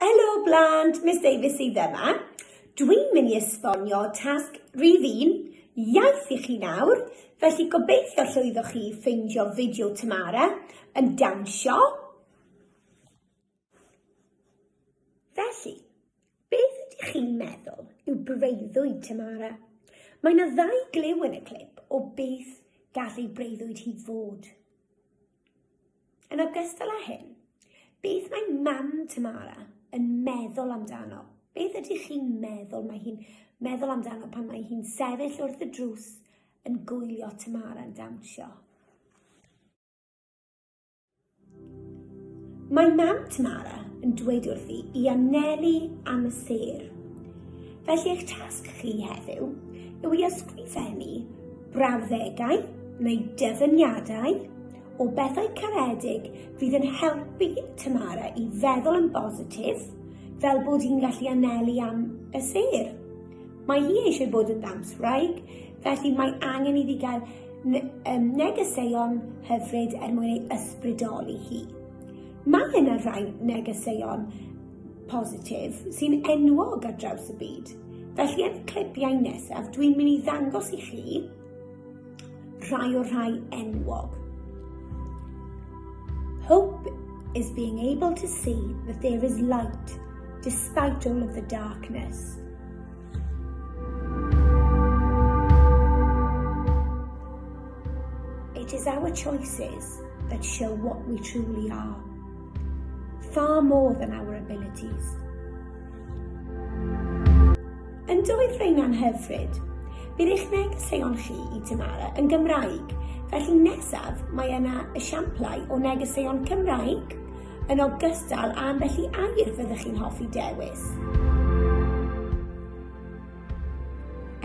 Helo blant, Miss Davies sydd yma. Dwi'n mynd i esbonio tasg rhif un, iaith i chi nawr, felly gobeithio llwyddoch chi ffeindio fideo Tamara yn dawnsio. Felly, beth ydych chi'n meddwl yw breuddwyd Tamara? Mae yna ddau glyw yn y clip o beth gallu breuddwyd hi fod. Yn ogystal â hyn, beth mae mam Tamara yn meddwl amdano? Beth ydych chi'n meddwl mae hi'n meddwl amdano pan mae hi'n sefyll wrth y drws yn gwylio Tamara'n dawnsio? Mae mam Tamara yn dweud wrthi i anelu am y sêr. Felly eich tasg chi heddiw yw i ysgrifennu brawddegau neu dyfyniadau o bethau caredig fydd yn helpu Tamara i feddwl yn bositif, fel bod hi'n gallu anelu am y sêr. Mae hi eisiau bod yn ddawnswraig, felly mae angen iddi gael negeseuon hyfryd er mwyn ei ysbrydoli hi. Mae yna rai negeseuon positif sy'n enwog ar draws y byd. Felly yn y clipiau nesaf, dwi'n mynd i ddangos i chi rhai o'r rhai enwog. Hope is being able to see that there is light despite all of the darkness. It is our choices that show what we truly are. Far more than our abilities. Yn doedd rheina'n hyfryd? Bydd eich negeseuon chi i Tamara yn Gymraeg, felly nesaf mae yna esiamplau o negeseuon Cymraeg yn ogystal â ambell i air fyddwch chi'n hoffi dewis.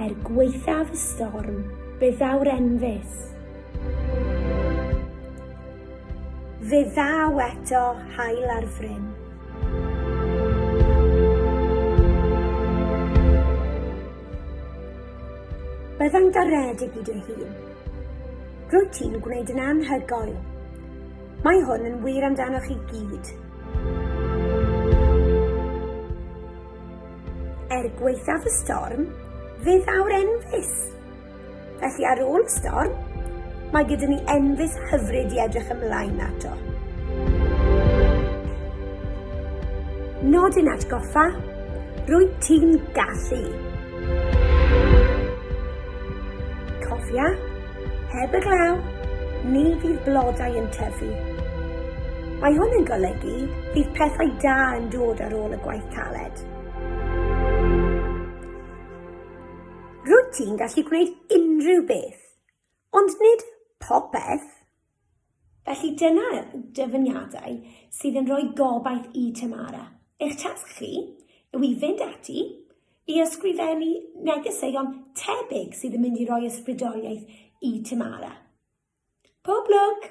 Er gwaethaf y storm, fe ddaw'r enfys. Fe ddaw eto haul ar fryn. Byddai'n garedig i dy hun. Rwyt ti'n gwneud yn anhygoel. Mae hwn yn wir amdanoch i gyd. Er gwaethaf y storm, fe ddaw'r enfys. Felly ar ôl y storm, mae gyda ni enfys hyfryd i edrych ymlaen ato. Nodyn atgoffa, rwyt ti'n gallu. Cofia, heb y glaw, ni fydd blodau yn tyfu. Mae hwn yn golygu bydd pethau da yn dod ar ôl y gwaith caled. Rwyt ti'n gallu gwneud unrhyw beth, ond nid popeth. Felly dyna dyfyniadau sydd yn rhoi gobaith i Tamara. Eich tasg chi yw i fynd ati i ysgrifennu negeseuon tebyg sydd yn mynd i roi ysbrydoliaeth i Tamara. Pob lwc!